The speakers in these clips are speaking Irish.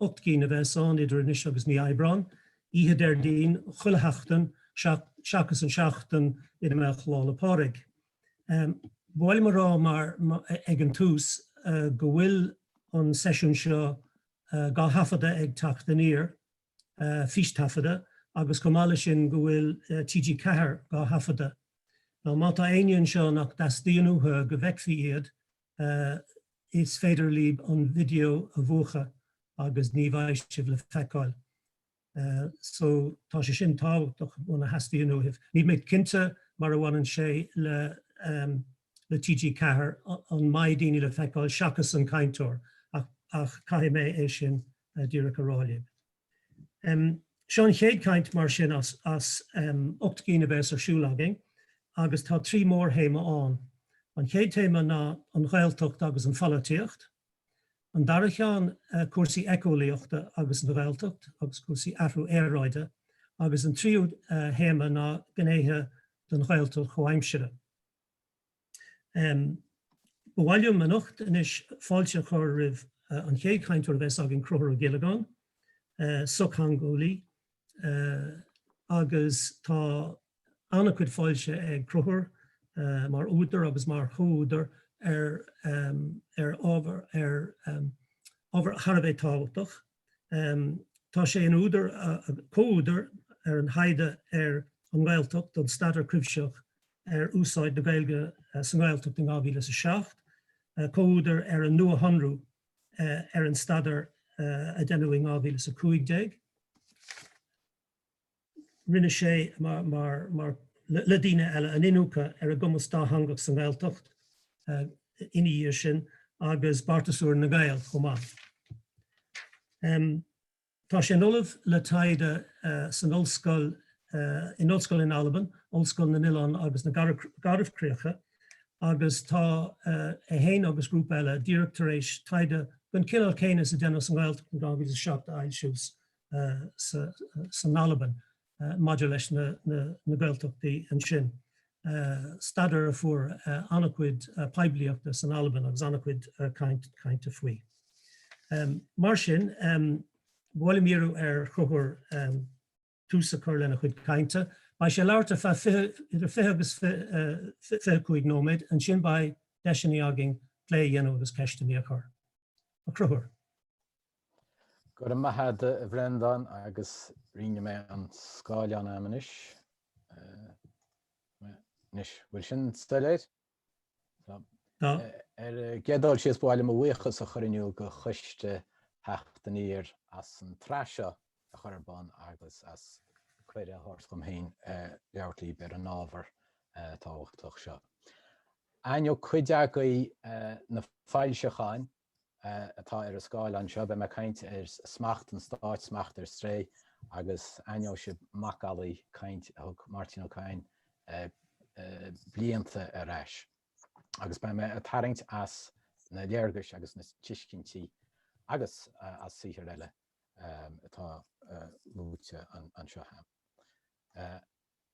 ocht gcinn a bheas ann idir anois agus mí Aibreáin, oíche Déardaoin chuile sheachtain seachas an seachtain ina mbeadh Lá 'le Pádraig. Ba mhaith liom a rá mar ag an tús go bhfuil an seisiún seo dhá thaifeadadh ag Teacht Aniar, fístaifeadadh, agus chomh maith leis sin go bhfuil TG4 dhá thaifeadadh. Má tá éinne anseo nach dteastaíonn uathu go bhfeicfí iad, is féidir libh an video a mhúchadh agus ní bheidh sibh le feiceáil so tá sé sin tábhachtach muna theastaíonn uaibh. Níl mé cinnte mar a bhaineann sé le le TG4 an mbeidh daoine le feiceáil seachas an cainteoir ach caithfidh mé é sin díreach a rá libh. Seo an chéad chaint mar sin as ocht gcinn a bheas ar siúl againn agus tá trí mhórthéama ann. An chéad téama ná an Ghaeltacht agus an pholaitíocht, an dara ceann cúrsaí éiceolaíochta agus an Ghaeltacht agus cúrsaí athrú aeráide agus an tríú théama ná gnéithe den Ghaeltacht chomhaimseartha. Ba mhaith liom anocht anois fáilte a chur roimh an chéad chainteoir a bheas againn, Conchúr Ó Giollagáin, sochtheangeolaí, agus tá an-chuid foilsithe ag Conchúr mar údar agus mar chomhúdar ar ábhar thar a bheith tábhachtach. Tá sé ina údar, comhúdar ar an thaighde ar an nGaeltacht don Staidéar Cuimhsitheach ar Úsáid na Gaeilge sa nGaeltacht in 2007, comhúdar ar an Nuashonrú ar an Staidéar a deineadh in 2015, rinne sé, mar le daoine eile, an iniúcadh ar an gcumas dátheangach sa nGaeltacht ina dhiaidh sin agus Beartas Úr na nGael chomh maith. Tá sé ina ollamh le taighde san ollscoil in ollscoil in Albain, Ollscoil na nOileán agus na Garbhchríocha, agus tá é féin agus grúpa eile díreach tar éis taighde den chineál céanna is a deineadh sa nGaeltacht in 2007 a fhoilsiú. san Albain maidir leis na Gaeltachtaí ansin. Staidéar a fuair an-chuid poiblíochta san Albain agus an-chuid cainte faoi. Mar sin, ba mhaith liom iarradh ar Chonchúr tús a chur lena chuid cainte. Beidh sé ag labhairt idir 20 agus 25 nóiméad, ansin beidh deiseanna againn plé a dhéanamh agus ceisteanna a chur. A Chonchúir. Go raibh maith a't a Bhreandáin agus rínne mé an scáileán a'm anois. Anois, bhfuil sin soiléir? Ar an gcéad dul síos ba mhaith liom mo bhuíochas a chur in iúl go choiste Theacht Aniar as an tsraith seo a chur ar bun agus as cuireadh a thabhairt dhom féin labhairt libh ar an ábhar tábhachtach seo. Aithneoidh cuid agaibh na foilseacháin atá ar an scáileán seo, beidh mé ag caint ar smacht an stáit, smacht ar strae, agus aithneoidh sibh macallaí caint a thug Máirtín Ó Cadhain blianta ar ais. Agus beidh mé ag tarraingt as na léargais agus na tuiscintí agus as saothair eile atá luaite anseo.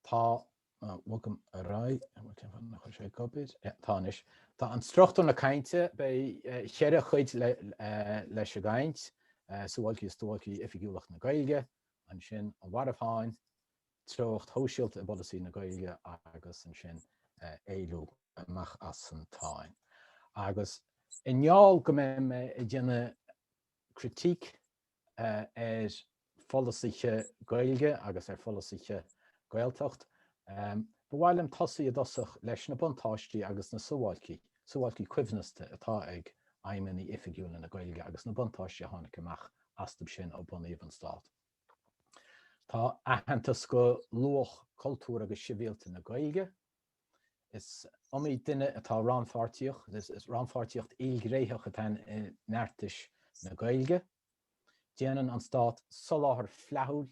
Tá, bogaim ar aghaidh, tá anois, tá struchtúr na cainte, beidh cheithre chuid leis an gcaint, suáilcí is duáilcí oifigiúlacht na Gaeilge, ansin an mharbhsháinn, treocht shóisialta i bpolasaí na Gaeilge agus ansin éalú amach as an tsáinn. Agus i ngeall go mbeidh mé ag déanamh critique ar pholasaithe Gaeilge agus ar pholasaithe Gaeltacht. Ba mhaith liom tosaí i dtosach leis na buntáistí agus na suáilcí, suáilcí coibhneasta, atá ag aidhmeanna oifigiúla na Gaeilge agus na buntáistí a tháinig amach astub sin ó bunaíodh an Stát. Tá aitheantas go luach cultúr agus sibhialta na Gaeilge, Is iomaí duine atá rannpháirtíoch, is rannpháirtíocht ilghnéitheach atá i mbeartais na Gaeilge. Déanann an Stát soláthar flaithiúil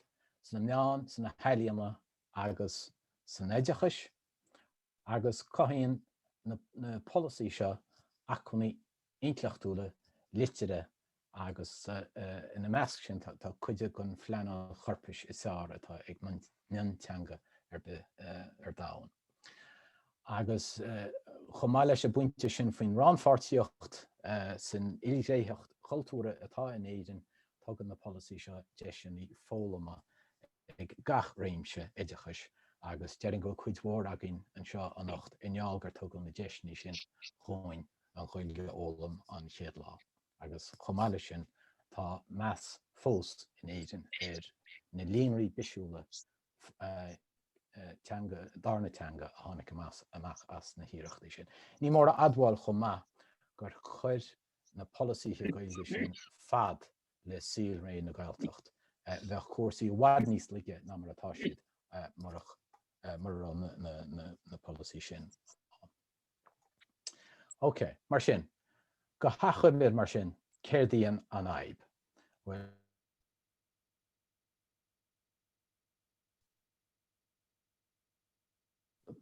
sna meáin, sna healaíona agus san oideachais agus cothaíonn na polasaí seo acmhainní intleachtúla, liteartha agus ina measc sin tá cuid den phleanáil chorpais is fearr atá ag mionteanga ar bith ar domhan. Agus chomh maith leis an bpointe sin faoin rannpháirtíocht san ilghnéitheacht cultúrtha atá in Éirinn, tugann na polasaí seo deiseanna foghlama ag gach réimse oideachais agus déarfainn go bhfuil cuid mhór againn anseo anocht i ngeall gur tugadh na deiseanna sin dhúinn. an Ghaeilge a fhoghlaim an chéad lá agus chomh maith leis sin tá meas fós in Éirinn ar na líonraí bisiúla teanga, darna teanga a tháinig amach as na hiarrachtaí sin. Ní mór a admháil chomh maith gur chuir na polasaithe Gaeilge sin fad le saolré na Gaeltacht, bheadh cúrsaí i bhfad níos laige ná mar atá siad mura raibh na polasaí sin ann. Ok, mar sin, go hachoimre mar sin, céard í an fhadhb? Bhuel,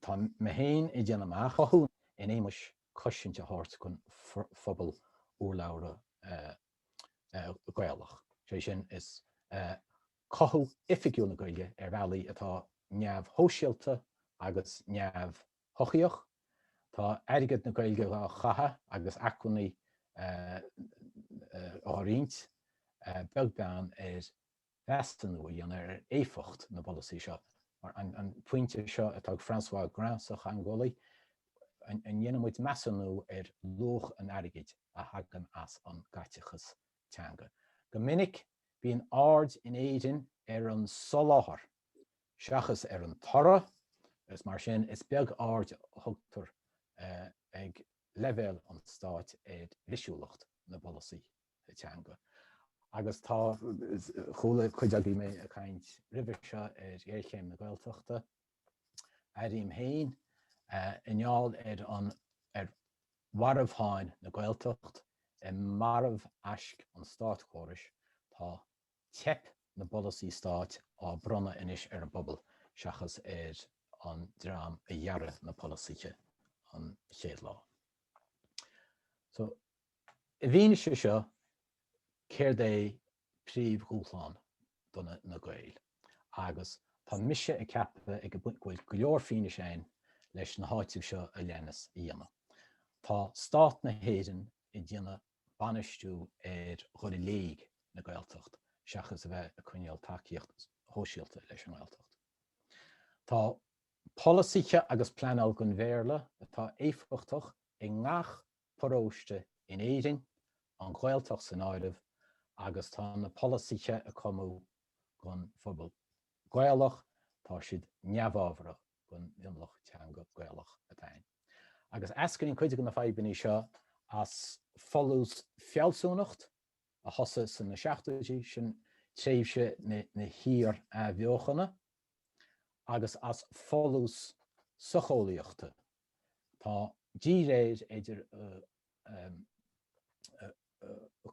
Tá mé féin i dtaobh an chothú in éagmais cosaint a thabhairt don phobal urlabhra Gaelach, is é sin, is é cothú oifigiúil na Gaeilge ar bhealaí atá neamhshóisialta agus neamhfhoirmiúil. shochaíoch. Tá airgead na Gaeilge dhá chaitheamh agus acmhainní dhá roinnt, beag beann ar mheasúnú a dhéanamh ar éifeacht na bpolasaí seo. Mar, an pointe seo atá ag Francois Grin sa gcaoi, an ndéanann muid measúnú ar luach an airgid a thagann as an gcaiteachas teanga? Go minic, bíonn aird in Éirinn ar an soláthar seachas ar an toradh, agus mar sin is beag aird a thugtar ag leibhéal an stáit ar bhisiúlacht na bpolasaí teanga. Agus tá, chuala cuid agaibh mé ag caint roimhe seo ar ghéarchéim na Gaeltachta, airím féin, i ngeall ar an, ar mharbháin na Gaeltacht, ar mharbh aisc an státchórais, tá teip na bpolasaí stáit á bronnadh anois ar an bpobal seachas ar an dream a dhearadh na polasaithe an chéad lá. So, i bhfianaise seo, céard é príomhdhúshlán do na Gael? Agus tá mise ag ceapadh ag go bhfuil go leor fianaise ann leis na háitimh seo a leanas a dhéanamh. Tá stát na hÉireann ag déanamh bainistiú ar dhul i léig na Gaeltacht seachas a bheith ag coinneáil tacaíocht shóisialta leis an nGaeltacht. Tá polasaithe agus pleanáil den Bhéarla atá éifeachtach i ngach paróiste in Éirinn, an Ghaeltacht san áireamh, agus tá na polasaithe a cumadh don phobal Gaelach, tá siad neamhábharach. den mhionlach teanga Gaelach atá ann. Agus eascraíonn cuid de na fadhbanna seo as folús fealsúnacht a thosaigh sna seachtóidí, sin tréimhse na hiar-athbheochana, agus as folús socheolaíochta, tá díréir idir an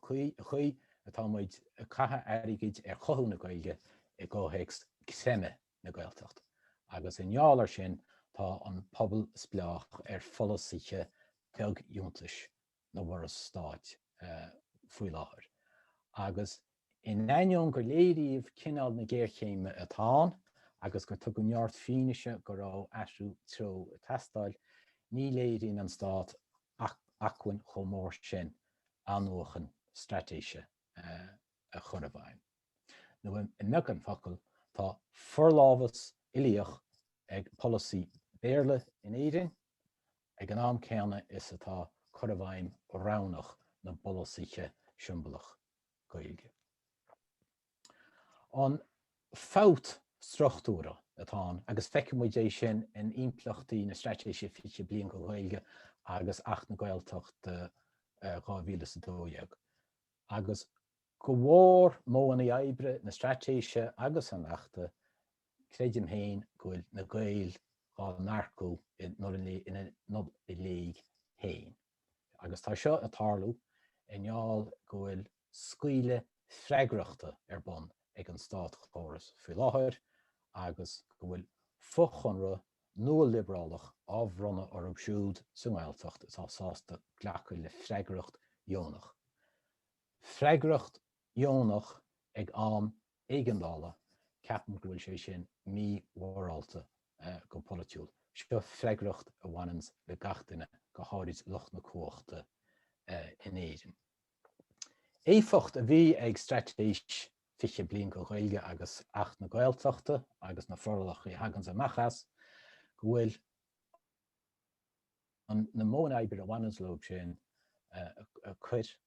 chaoi atá muid ag caitheamh airgid ar chothú na Gaeilge i gcomhthéacs creimeadh na Gaeltacht, agus i ngeall air sin tá an pobal spleách ar pholasaithe beagfhiúntais na bhForas Stáit faoi láthair, agus in ainneoin gur léiríodh cineál na géarchéime atá ann agus gur tugadh neart fianaise go raibh athrú treo ag teastáil, ní léiríonn an Stát acmhainn chomh mór sin athnuachan straitéise a chur i bhfeidhm. nó i mbeagán focal, tá forlámhas uilíoch ag polasaí Béarla in Éirinn, ag an am céanna is atá cur i bhfeidhm roghnach na bpolasaithe siombalach Gaeilge. An fabht struchtúrtha atá ann, agus feicimid é sin in impleachtaí na Straitéise 20 Bliain don Ghaeilge agus Acht na Gaeltachta 2012, agus. Go bharr modhanna oibre na Straitéise agus an Achta, creidim féin go bhfuil na Gaeil dhá n-earcú ina n-oidhe léig féin, agus tá seo ag tarlú i ngeall go bhfuil scaoileadh freagrachta ar bun ag an státchóras faoi láthair agus go bhfuil fochonrú nua-liobrálach á bhronnadh orthu siúd sa nGaeltacht atá sásta glacadh le freagracht dheonach. freagracht dheonach ag am éigeandála, ceapaim go bhfuil sé sin mí-mhorálta go polaitiúil. Seo freagracht a bhaineanns le gach duine, go háirid lucht na cumhachta in Éirinn. Éifeacht a bhí ag Straitéis 20 Bliain don Ghaeilge agus Acht na Gaeltachta agus na forálacha a thaganns amach as, go bhfuil na modhanna oibre a bhaineanns leob sin a chur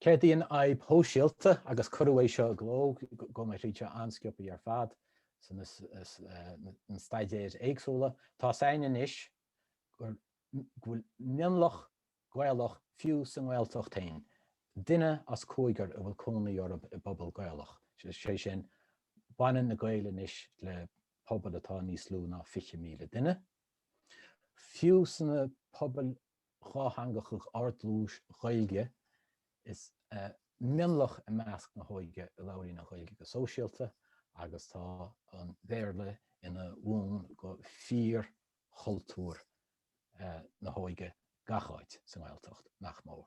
Céard í an fhadhb shóisialta, agus cuireadh é seo i gcló, gabhfaidh mé thríd seo an-sciobtha ar fad sna staidéir éagsúla, tá's againn anois go bhfuil mionlach Gaelach fiú sa nGaeltacht féin, duine as cúigear a bhfuil cónaí orab i bpobal Gaelach, sé sin, baineann na Gaeil anois le pobail atá níos lú ná 20,000 duine. Fiú sna pobail dhátheangacha ard-dlúis Ghaeilge is mionlach i measc na hóige a labhraíonn an Ghaeilge go sóisialta agus tá an Béarla ina bhun go fíorchultúr na hóige gach áit, sa nGaeltacht nach mór.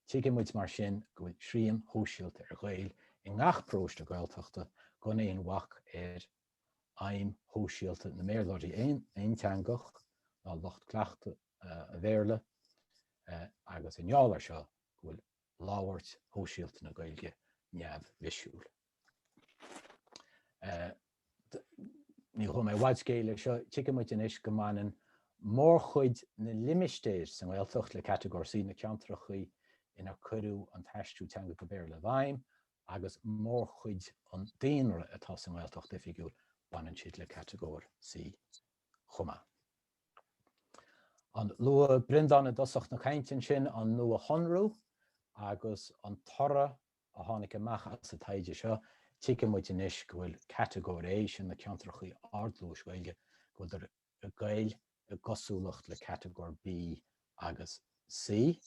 Tuigeann muid mar sin go bhfuil srian shóisialta ar Ghaeil i ngach paróiste Gaeltachta gan aon bhac ar aidhm shóisialta na mBéarlóirí aonteangach ná lucht cleachtaidh an Bhéarla agus i ngeall air seo go bhfuil labhairt shóisialta na Gaeilge neamhbhisiúil. Ní ghabhfaidh mé i bhfad scéil le seo, tuigeann muid anois go mbaineann mórchuid na limistéar sa nGaeltacht le catagóir C, na ceantrachaí inar cuireadh an t-aistriú teanga go Béarla i bhfeidhm agus mórchuid an daonra atá sa nGaeltacht oifigiúil baineann siad le catagóir C chomh maith. A luaigh Breandán i dtosach na cainte ansin an nuashonrú agus an toradh a tháinig amach as an taighde seo, tuigeann muid anois go bhfuil catagóir A, sin na ceantrachaí ard-dlúis Ghaeilge, go bhfuil ag goil i gcosúlacht le Catagóir B agus C.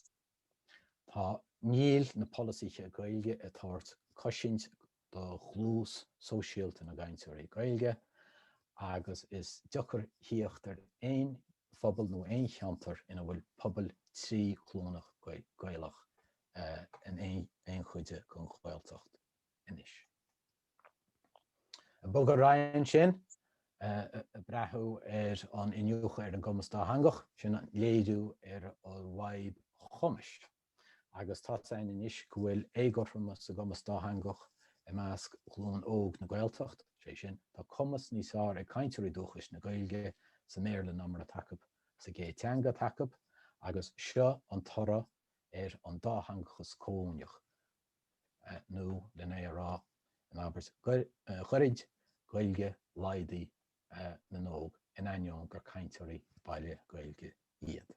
Tá Níl na polasaithe Gaeilge ag tabhairt cosaint do dhlús sóisialta na gcainteoirí Gaeilge agus is deacair thíocht ar aon phobal nó aon cheantar ina bhfuil pobail trí ghlúineach Gaelach in aon chuid den Ghaeltacht anois. Ag bogadh ar aghaidh ansin, ag breathú ar an iniúchadh ar an gcumas dátheangach, sin an léiriú ar an bhfadhb chumais, agus tá's againn anois go bhfuil éagothromas sa gcumas dátheangach i measc ghlúin óg na Gaeltacht, is é sin, tá cumas níos fearr ag cainteoirí dúchais na Gaeilge sa mBéarla ná mar atá acu sa gcéad teanga atá acu, agus seo an toradh ar an dátheangachas comhuaineach, nó len é a rá in abairt ghairid Ghaeilge, Laidin na n-óg, in ainneoin gur cainteoirí baile Gaeilge iad.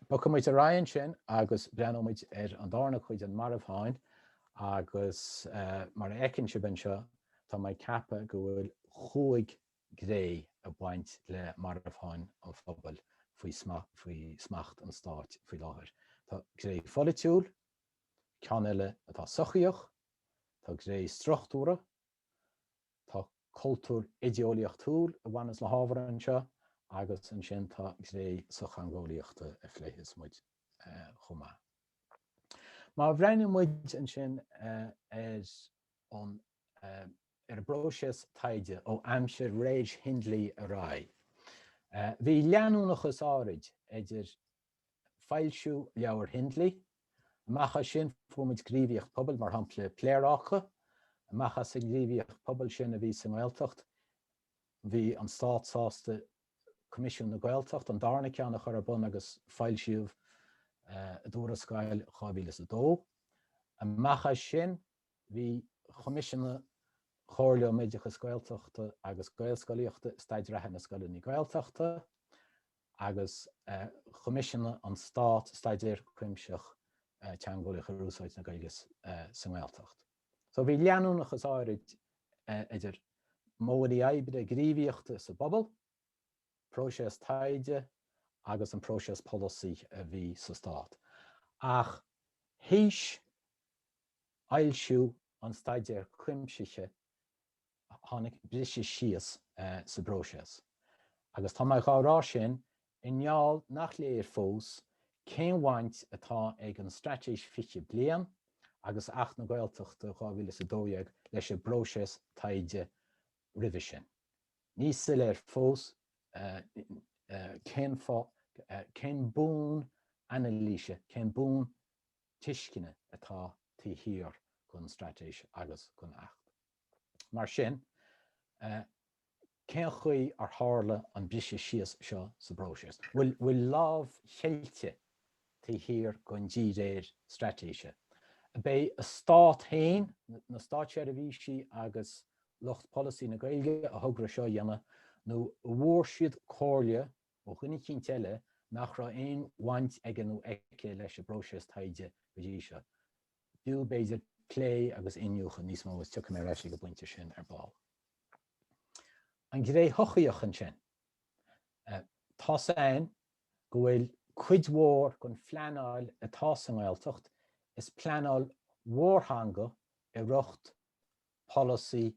Bogfaidh muid ar aghaidh ansin agus breathnóimid ar an darna cuid den mharbhsháinn agus mar a fheiceann sibh anseo tá mé ag ceapadh go bhfuil cúig ghné ag baint le marbhsháinn an phobail faoi smacht an stáit faoi láthair. Tá gné pholaitiúil, ceann eile atá sochaíoch, tá gné struchtúrtha, Tá cultúr idéeolaíochtúil a bhaineas le hábhar anseo agus ansin tá gné sochtheangeolaíochta a phléifeas muid chomh maith. Má bhreathnaíonn muid ansin ar an bpróiseas taighde ó aimsir Reg Hindley ar aghaidh, bhí leanúnachas áirid idir foilsiú leabhar Hindley. Amach as sin fuair muid gníomhaíocht pobail, mar shampla Pléaráca. Amach as an ngníomhaíocht pobail sin a bhí sa nGaeltacht, bhí an Stát sásta Coimisiún na Gaeltacht, an darna ceann, a chur ar bun agus foilsíodh a dtuarascáil 2002. Amach as sin bhí choimisiúnaigh an Chomhairle um Oideachas Gaeltachta agus Gaelscolaíochta, Staid Reatha na Scoileanna Gaeltachta, agus choimisiúnaigh an Stát staidéar cuimsitheach teangeolaíoch ar úsáid na Gaeilge sa nGaeltacht. So bhí leanúnachas áirid idir modhanna oibre gníomhaíochta sa bpobal, próiseas taighde agus an próiseas polasaí a bhí sa Stát, ach théis fhoilsiú an Staidéir Chuimsithigh, tháinig briseadh síos sa bpróiseas agus tá mé dhá rá sin i ngeall nach léir fós cén bhaint atá ag an Straitéis 20 Bliain agus Acht na Gaeltachta 2012 leis an bpróiseas taighde roimhe sin. Ní soiléir fós cén, cén bonn anailíse, cén bonn tuisceana atá taobh thiar den Straitéis agus den Acht. Mar sin, cén chaoi ar tharla an briseadh síos seo sa bpróiseas? Bhfuil lámh cheilte taobh thiar den díréir straitéise? Ab é an Stát féin, na státseirbhísigh agus lucht polasaí na Gaeilge a thograigh seo a dhéanamh nó an bhfuair siad comhairle ó dhuine eicínt eile nach raibh aon bhaint aige nó aici leis an bpróiseas taighde go dtí seo? B'fhiú, b'fhéidir, plé agus iniúchadh níos mó agus tiocfaidh mé ar ais ag an bpointe sin ar ball. An ghné shochaíoch ansin. Tá a fhios againn go bhfuil cuid mhór den phleanáil atá sa nGaeltacht, is pleanáil mhórtheanga i riocht polasaí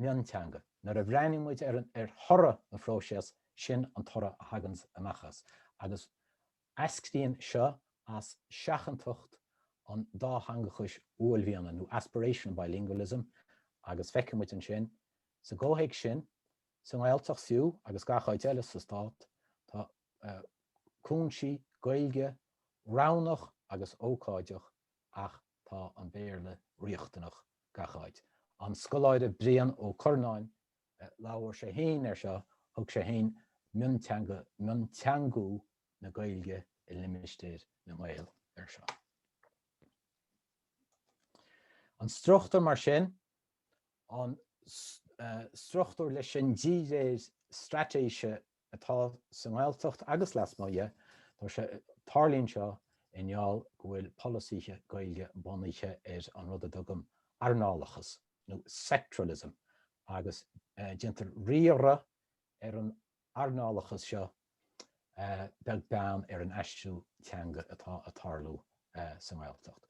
mionteanga. Nuair a bhreathnaíonn muid ar thoradh an phróiseas, sin an toradh a thaganns amach as. Agus Eascraíonn seo as seachantacht an dátheangachais uaillmhianaigh nó aspirational bilingualism agus feicfidh muid ansin, sa gcomhthéacs sin, sa nGaeltacht fiú agus gach áit eile sa Stát, tá cúinsí Gaeilge roghnach agus ócáideach ach tá an Béarla riachtanach gach áit. An scoláire Brian Ó Curnáin Labhair sé féin air seo, thug sé féin mionteanga, mionteangú na Gaeilge i limistéir na nGael air seo. An struchtúr mar sin, an struchtúr leis sin díréir straitéise atá sa nGaeltacht agus lasmuigh dhe, tá sé, tarlaíonn seo i ngeall go bhfuil polasaithe Gaeilge bunaithe ar an rud a dtugaim earnálachas nó sectoralism agus déantar riaradh ar an earnálachas seo beag beann ar an aistriú teanga atá a' tarlú sa nGaeltacht.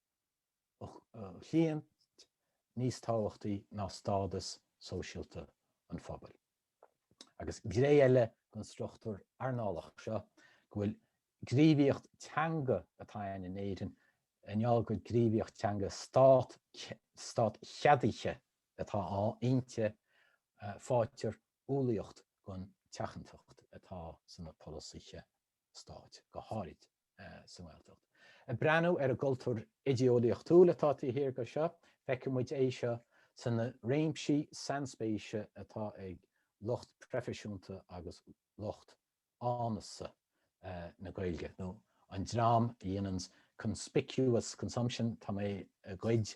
a chliaint níos tábhachtaí ná stádas sóisialta an phobail. Agus gné eile den struchtúr earnálach seo go bhfuil gníomhaíocht teanga atá ann in Éirinn i ngeall go gníomhaíocht teanga stát, stát cheadaithe atá inti, faightear umhlaíocht don tseachantacht atá sna polasaithe stáit, go háirid sa nGaeltacht. Ag breathnú ar an gcultúr idé-eolaíochtúil atá taobh thiar de seo, feicfidh muid é seo sa na réimsí sainspéise atá ag lucht proifisiúnta agus lucht áineasa na Gaeilge, nó an dream a dhéananns conspicuous consumption, tá mé i gcuid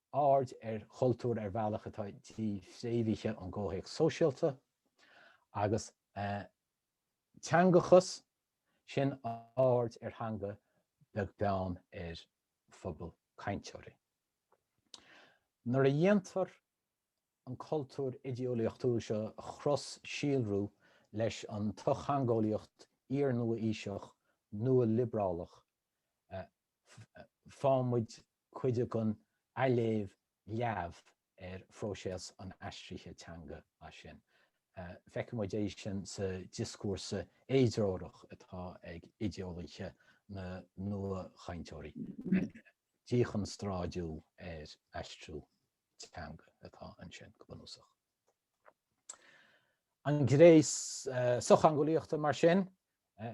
aird ar chultúr ar bhealach atá dífhréamhaithe ón gcomhthéacs sóisialta, agus teangachas, sin aird ar theanga beag beann ar phobal cainteoirí. Nuair a dhéantar an cultúr idéolaíochtúil seo a chros-síolrú leis an tsochtheangeolaíocht iar-nua-aoiseach nua-liobrálach faigheann muid cuid den léamh leamh ar phróiseas an aistrithe teanga as sin. Feiceann muid é sin sa dioscúrsa éidreorach atá ag idéolaithe na nuachainteoirí, díchonstráidiú ar aistriú teanga atá ansin go bunúsach. An gné sochtheangeolaíochta, mar sin,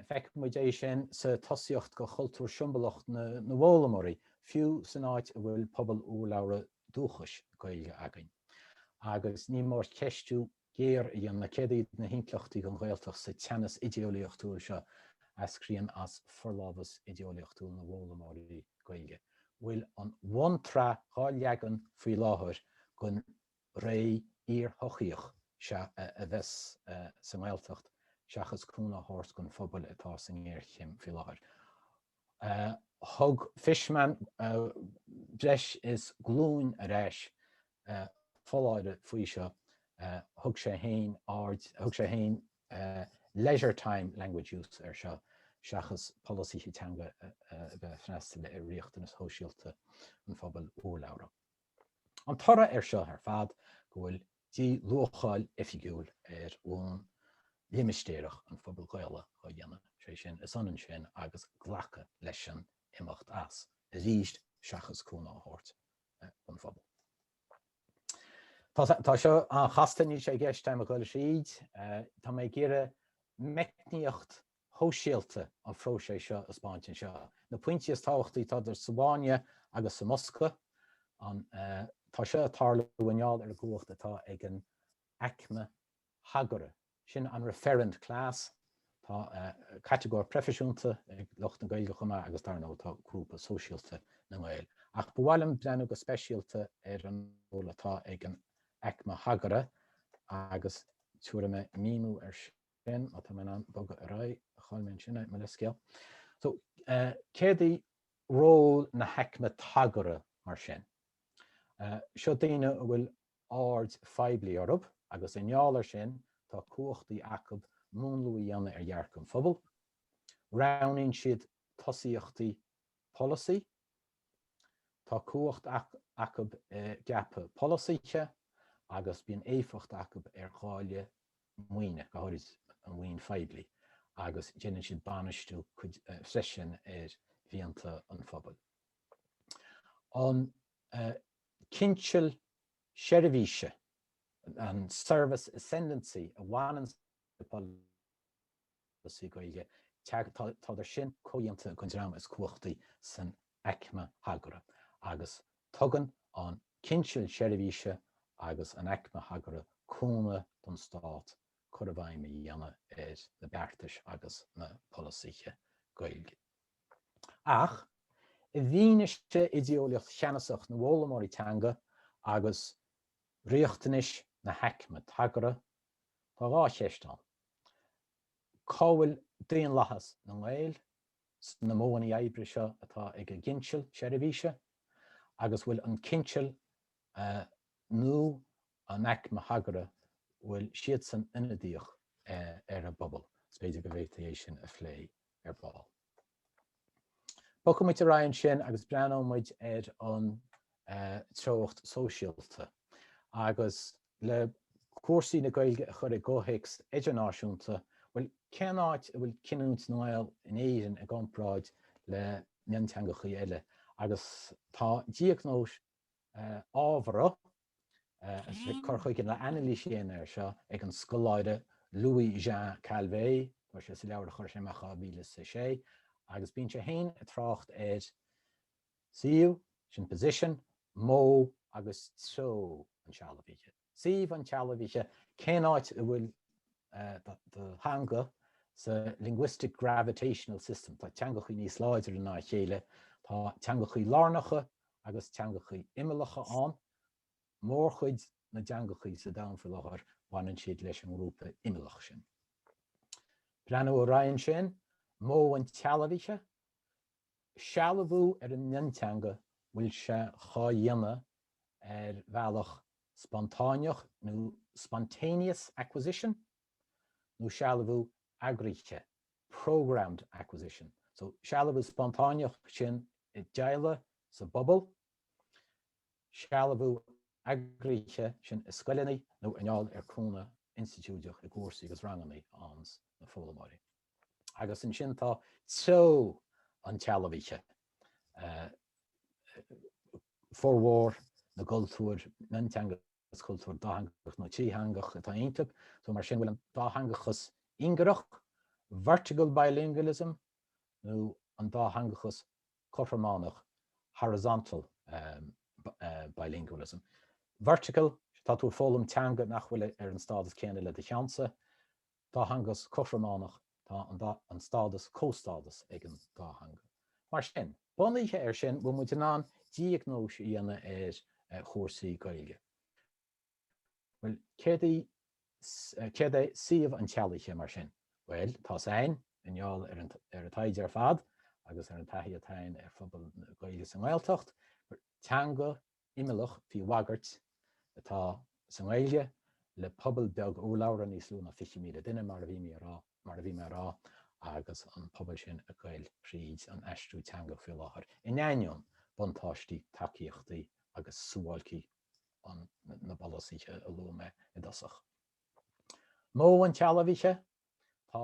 feicimid é sin sa tosaíocht do chultúr siombalach na bhfoghlaimeoirí, fiú san áit a bhfuil pobal urlabhra dúchais Gaeilge againn. Agus ní mór ceistiú géar a dhéanamh, céard iad na himpleachtaí don Ghaeltacht sa teannas idéolaíochtúil seo a eascraíonn as forlámhas idéolaíochtúil na bhfoghlaimeoirí Gaeilge? Bhfuil an bhunsraith dhá leagan faoi láthair don Ré iar-shochaíoch seo a bheas sa nGaeltacht seachas cúnamh a thabhairt don phobal atá sa ngéarchéim faoi láthair. Thug Fishman breis is glúin ar ais foláireamh faoi seo, thug sé féin aird, thug sé féin leisure time language use air seo seachas polasaithe teanga a bheith freastal ar riachtanais shóisialta an phobail urlabhra. An toradh air seo ar fad go bhfuil dí-luacháil oifigiúil ar bhonn limistéireach an phobail Ghaelaigh á dhéanamh, sé sin, is ionann sin agus glacadh leis an imeacht as, arís, seachas cúnamh a thabhairt don phobal. Tá seo an-chasta, níl sé i gceist agam a ghoil tríd, tá mé ag iarraidh meicníocht shóisialta an phróisis seo a thaispeáint anseo. Na pointí is tábhachtaí, tádar sa bhfáinne agus sa mbosca, an tá seo ag tarlú i ngeall ar an gcumhacht atá ag an aicme thagartha, sin an referent class, tá catagóir proifisiúnta ag lucht na Gaeilge chomh maith agus dar ndóigh tá grúpa sóisialta na nGael. Ach ba mhaith liom breathnú go speisialta ar an ról atá ag an aicme thagartha agus tabharfaidh mé míniú air sin. sin má tá mé in ann bogadh ar aghaidh chaill mé ansin é, mo leithscéal. So céard í ról na haicme tagartha mar sin? Seo daoine a bhfuil aird phoiblí orthu agus i ngeall air sin tá cumhachtaí acu múnlú a dhéanamh ar dhearcadh an phobail, roghnaíonn siad tosaíochtaí polasaí Tá cumhacht acu i gceapadh polasaithe agus bíonn éifeacht acu ar dháileadh maoine, go háirid an mhaoin phoiblí, agus déanann siad bainistiú freisin ar mhianta an phobail. An cinseal seirbhíse, an service ascendancy, a bhaineann le polasaí Gaeilge, tádar sin comhdhéanta den dream is cumhachtaí san aicme thagartha agus tugann an cinseal seirbhíse agus an aicme thagartha cúnamh don Stát cur i bhfeidhm a dhéanamh ar na beartais agus na polasaithe Gaeilge. Ach, i bhfianaise idéolaíocht cheannasach na bhfoghlaimeoirí teanga agus riachtanais na haicme tagartha, tá dhá cheist ann. Cá bhfuil daonlathas na nGael sna modhanna oibre seo atá ag an gcinseal seirbhíse, agus bhfuil an cinseal nó an aicme thagartha, bhfuil siadsan ionadaíoch ar an bpobal? Is b'fhéidir go bhféadfaí é sin a phlé ar ball. Bogfaidh muid ar aghaidh ansin agus breathnóidh muid ar an treocht sóisialta agus le cúrsaí na Gaeilge a chur i gcomhthéacs idirnáisiúnta, bhuel, cén áit a bhfuil cinniúint na nGael in Éirinn i gcomparáid le mionteangachaí eile agus tá diagnóis ábhara, agus bhí cur chuige nó anailís déanta air seo ag an scoláire Louis Jean Calvet, tá sé sa leabhar a chuir sé amach 2006, agus bíonn sé féin ag trácht ar suíomh, sin position, modh agus treo an tsealbhaithe. suíomh an tsealbhaithe, cén áit a bhfuil do theanga sa linguistic gravitational system, tá teangacha níos láidre ná a chéile, tá teangacha lárnacha agus teangacha imeallacha ann, mórchuid na dteangacha sa domhan faoi láthair, baineann siad leis an ngrúpa imeallach sin. Breathnú ar a raibh ansin, modh an tsealbhaithe, sealbhú ar an mionteanga, bhfuil sé dhá dhéanamh ar bhealach spontáineach nó spontaneous acquisition nó sealbhú eagraithe programmed acquisition so sealbhú spontáineach sin i dteaghlaigh, sa bpobal, sealbhú eagraithe sin i scoileanna nó i ngeall ar cúnamh institiúideach i gcúrsaí agus rangannaí ins na foghlaimeoirí. Agus ansin tá treo an tsealbhaithe, formhór na gcultúr mionteanga is cultúr dátheangach nó trítheangach atá iontu, so mar sin bhfuil an dátheangachas ingearach, vertical bilingualism, nó an dátheangachas cothrománach, horizontal bilingualism. Vertical, tá tú ag foghlaim teanga nach bhfuil ar an stádas céanna le do cheannsa, dátheangachas cothrománach, tá an dá an stádas comhstádas ag an dá theanga. Mar sin, bunaithe air sin, bhfuil muid in ann diagnóis a dhéanamh ar chúrsaí Gaeilge. Bhuel, céard í céard é suíomh an tsealbhaithe, mar sin? Bhuel, tá's againn, i ngeall ar an ar an taighde ar fad agus ar an taithí atá againn ar phobail na Gaeilge sa nGaeltacht, gur teanga imeallach faoi bhagairt atá sa nGaeilge le pobal beag urlabhra, níos lú ná 20,000 duine, mar a bhí mé a rá, agus an pobal sin ag goil thríd an aistriú teanga faoi láthair, in ainneoin buntáistí, tacaíochtaí agus suáilcí na bpolasaithe a luaigh mé i dtosach. Modh an tsealbhaithe, tá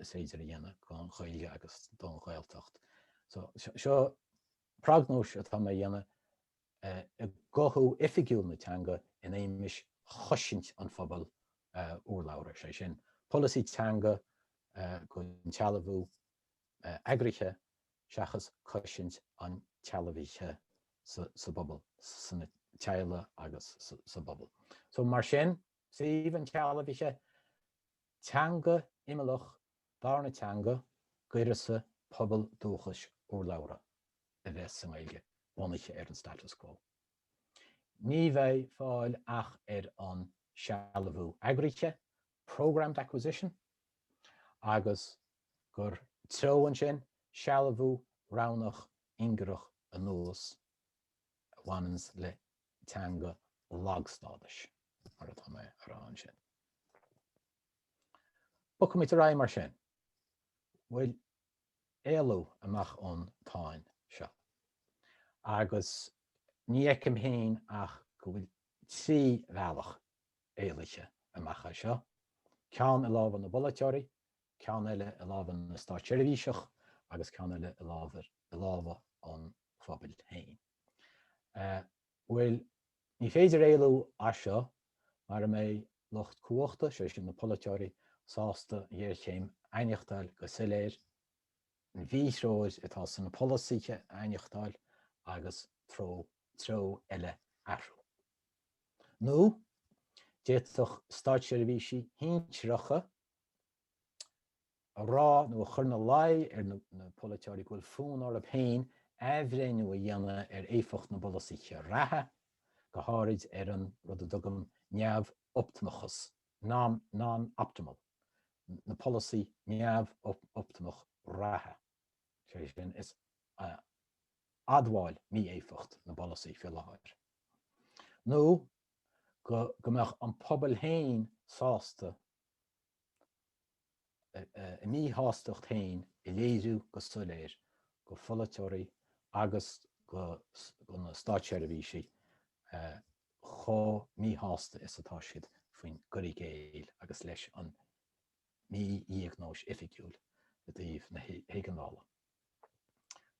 is féidir a dhéanamh don Ghaeilge agus don Ghaeltacht. So seo prognóis atá mé a dhéanamh i gcothú oifigiúil na teanga in éagmais chosaint an phobail urlabhra, sé sin, polasaí teanga don tsealbhú eagraithe seachas cosaint an tsealbhaithe sa bpobal, sna teaghlaigh agus sa bpobal. So mar sin, suíomh an tsealbhaithe Teanga imeallach, darna teanga, d'uireasa pobal dúchais urlabhra a bheith sa nGaeilge, bunaithe ar an status quo. Ní bheidh fáil ach ar an sealbhú eagraithe, programmed acquisition, agus gur treo an sin, sealbhú roghnach ingearach anuas, a bhaineanns le teanga lagstádais, mar atá mé ag rá ansin. Bogfaidh muid ar aghaidh mar sin. Bhfuil éalú amach ón tsáinn seo. Agus ní fheicim féin ach go bhfuil trí bhealach éalaithe amach as seo, ceann i lámha na bpolaiteoirí, ceann eile i lámha na státseirbhíseach agus ceann eile i lámha an phobail féin. Bhuel, ní féidir éalú as seo mara mbeidh lucht cumhachta, sé sin na polaiteoirí, sásta an ghéarchéim a aithneachtáil go soiléir, an mhíthreoir atá sna polasaithe a aithneachtáil agus treo, treo eile a athrú. Nó d'fhéadfadh státseirbhísigh shinsearacha a rá nó a chur ina luí ar na polaiteoirí go bhfuil fonn orthu féin athbhreithniú a dhéanamh ar éifeacht na bpolasaithe reatha, go háirid ar an rud a dtugaim 'neamh-optamachas', non-optimal, na polasaí neamh-optamach reatha, sé sin, is admháil mí-éifeacht na bpolasaí faoi láthair, nó go mbeadh an pobal féin sásta a mhíshástacht féin a léiriú go soiléir go pholaiteoirí agus go na státseirbhísigh chomh míshásta is atá siad faoin gcur i gcéill agus leis an mídhiagnóis oifigiúil i dtaobh na hÉigeandála.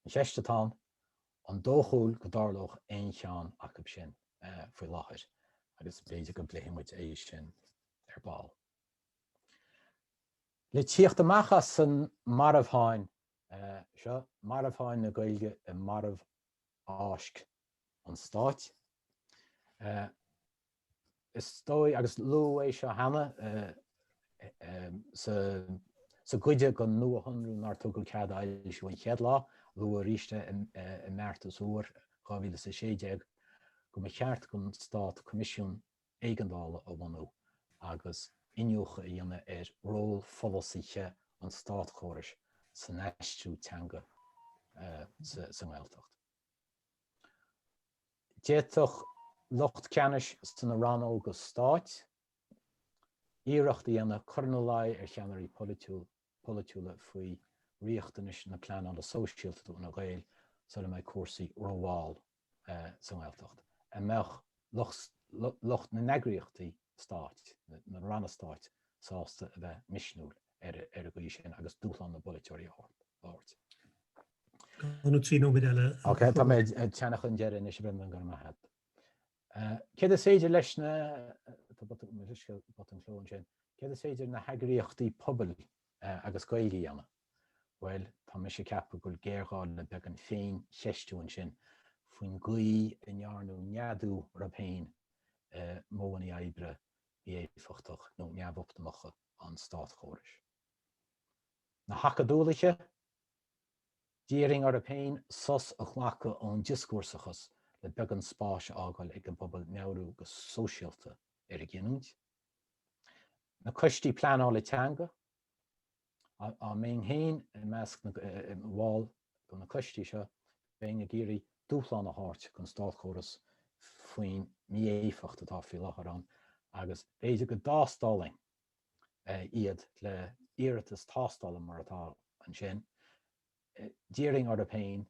An cheist atá ann, An dóchúil go dtarlódh aon cheann acub sin faoi láthair, agus b'fhéidir go bpléifidh muid é sin ar ball. Le tíocht amach as an marbhsháinn seo, marbhsháinn na Gaeilge i marbhfháisc an Stáit, Is dóigh, agus luadh é seo cheana sa gcuid den Nuashonrú, nár tugadh cead a fhoilsiú an chéad lá, luadh aríst é i mBeartas Úr 2016, go mba cheart don Stát Coimisiún Éigeandála a bhunú agus iniúchadh a dhéanamh ar ról pholasaithe an státchórais san aistriú teanga sa nGaeltacht. D'fhéadfadh lucht ceannais sna rannóga stáit iarracht a dhéanamh cur ina luí ar cheannairí polaitiúla faoi riachtanais na pleanála sóisialta do na Gaeil sula mbeidh cúrsaí rómhall sa nGaeltacht á mbeadh lucht na n-eagraíochtaí stáit, na ranna stáit, sásta a bheith misniúil. ar an gcaoi sin agus dúshlán na bpolaiteoirí a thabhairt. Dhá nó trí nóiméad eile. Ok, tá mé ag teannadh chun deiridh anois, Bhrendan, go raibh maith agat. Céard is féidir leis na, tá botún cló ansin, céard is féidir na heagraíochtaí pobail agus Gaeilge a dhéanamh? Bhuel, tá mise ag ceapadh go bhfuil géarghá le beagán féincheistiú ansin faoin gcaoi a ndearnadh neadú orthu féin i modhanna oibre mí-éifeachtach nó neamhoptamacha an státchórais. Na hacadúlaithe, d'iarrfainn orthu féin sos a ghlacadh ón dioscúrsachas le beagán spáis a fhágáil ag an bpobal meabhrú go sóisialta ar a gcinniúint. Na coistí pleanála teanga, á mbeinn féin i measc na mball do na coistí seo, bheinn ag iarraidh dúshlán a thabhairt don státchóras faoin mí-éifeacht atá faoi láthair ann agus b'fhéidir go dtástálfainn iad le iarratas tástála mar atá ansin, d'iarrfainn orthu féin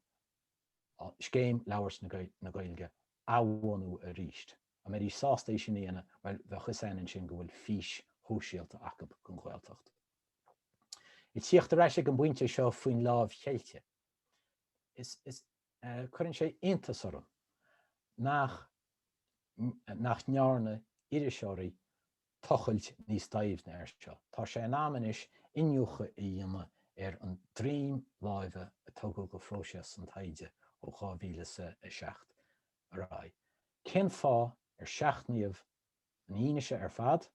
Scéim Labhairt na Gaeilge a bhunú aríst. Á mbeidís sásta é sin a dhéanamh, bhuel, bheadh 'fhios a'inn ansin go bhfuil fís shóisialta acu don Ghaeltacht. Ag tíocht ar ais ag an bpointe seo faoin láimh cheilte, is cuireann sé iontas orm nach nach ndearna iriseoirí tochailt níos doimhne air seo. Tá sé in am anois iniúchadh a dhéanamh ar an droim láimhe a tugadh do phróiseas an taighde ó 2007 ar aghaidh. Cén fáth ar seachnaíodh an fhianaise ar fad?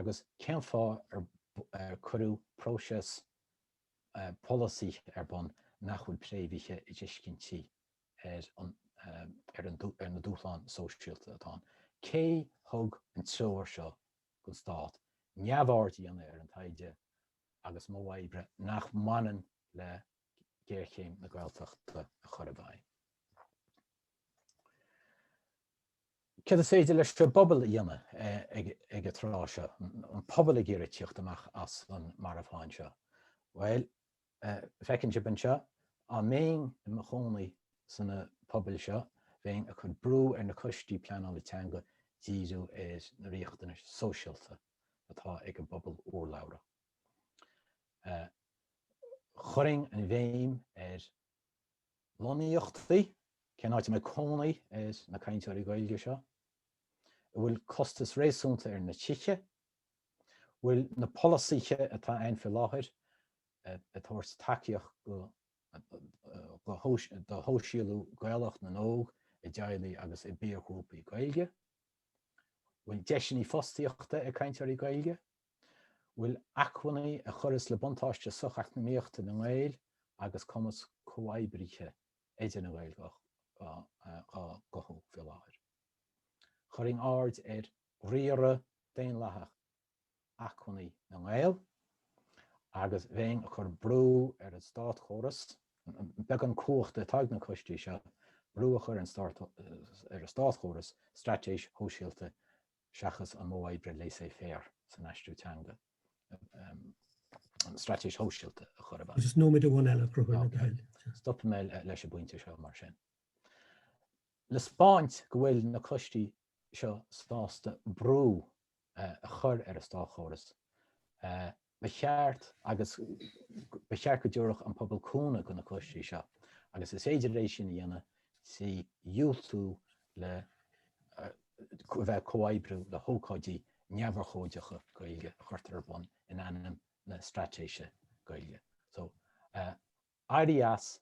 agus cén fáth ar cuireadh próiseas polasaí ar bun nach bhfuil préamhaithe i dtuiscintí ar na dúshláin sóisialta atá ann? Cé thug an treoir seo don stát neamhaird a dhéanamh ar an taighde agus modh oibre nach mbaineann le géarchéim na Gaeltachta a chur i bhfeidhm? Céard is féidir leis an bpobal a dhéanamh ag an tráth seo, an pobal ag iarraidh tíocht amach as an marbhsháinn seo? Bhuel, feiceann sibh anseo, á mbeinn i mo chónaí sna pobail seo, bheinn ag cur brú ar na coistí pleanála teanga díriú ar na riachtanais sóisialta atá ag an bpobal urlabhra. Chuirfinn an bhéim ar. lonnaíochtaí, cén áit a mbeidh cónaí ar na cainteoirí Gaeilge seo? an bhfuil costas réasúnta ar na tithe? an bhfuil na polasaithe atá ann faoi láthair ag tabhairt tacaíocht do shóisialú Gaelach na n-óg i dteaghlaigh agus i bpiarghrúpaí Gaeilge? an bhfuil deiseanna fostaíochta ag cainteoirí Gaeilge? bhfuil acmhainní a chuireas le buntáiste socheacnamaíochta na nGael agus cumas comhoibrithe idir na Gaeil dhá gcothú faoi láthair. Chuirfinn aird ar riaradh daonlathach acmhainní na nGael agus bheinn ag cur brú ar an státchóras, beagán cumhachta atá ag na coistí seo, brú a chur ar an státchóras straitéis shóisialta seachas an modh oibre laissez faire san aistriú teanga, an straitéis shóisialta a chur i bhfeidhm. Is nóiméad amháin eile a Chonchúir le do thoil. Stopfaidh mé leis an bpointe seo mar sin. Le spáint go bhfuil na coistí seo sásta brú a chur ar an státchóras Ba cheart, agus ba cheart go dtabharfadh an pobal cúnamh do na coistí seo, agus is féidir é sin a dhéanamh trí dhiúltú le a bheith ag comhoibriú le hócáidí neamhurchóideacha Gaeilge a chuirtear ar bun in ainm na straitéise Gaeilge. Éirí as,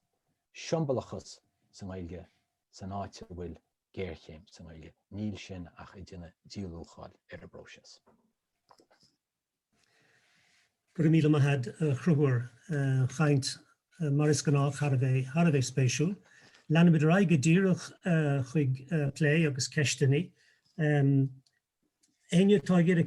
siombalachas sa nGaeilge san áit a bhfuil géarchéim sa nGaeltacht, níl sin ach ag déanamh díluacháil ar an bpróiseas. Go raibh míle maith ad, a Chonchúir. Caint, mar is gnáth, thar a bheith, thar a bheith spéisiúil. Leanfaimid ar aghaidh go díreach chuig plé agus ceisteannaí. Éinne atá ag iarraidh.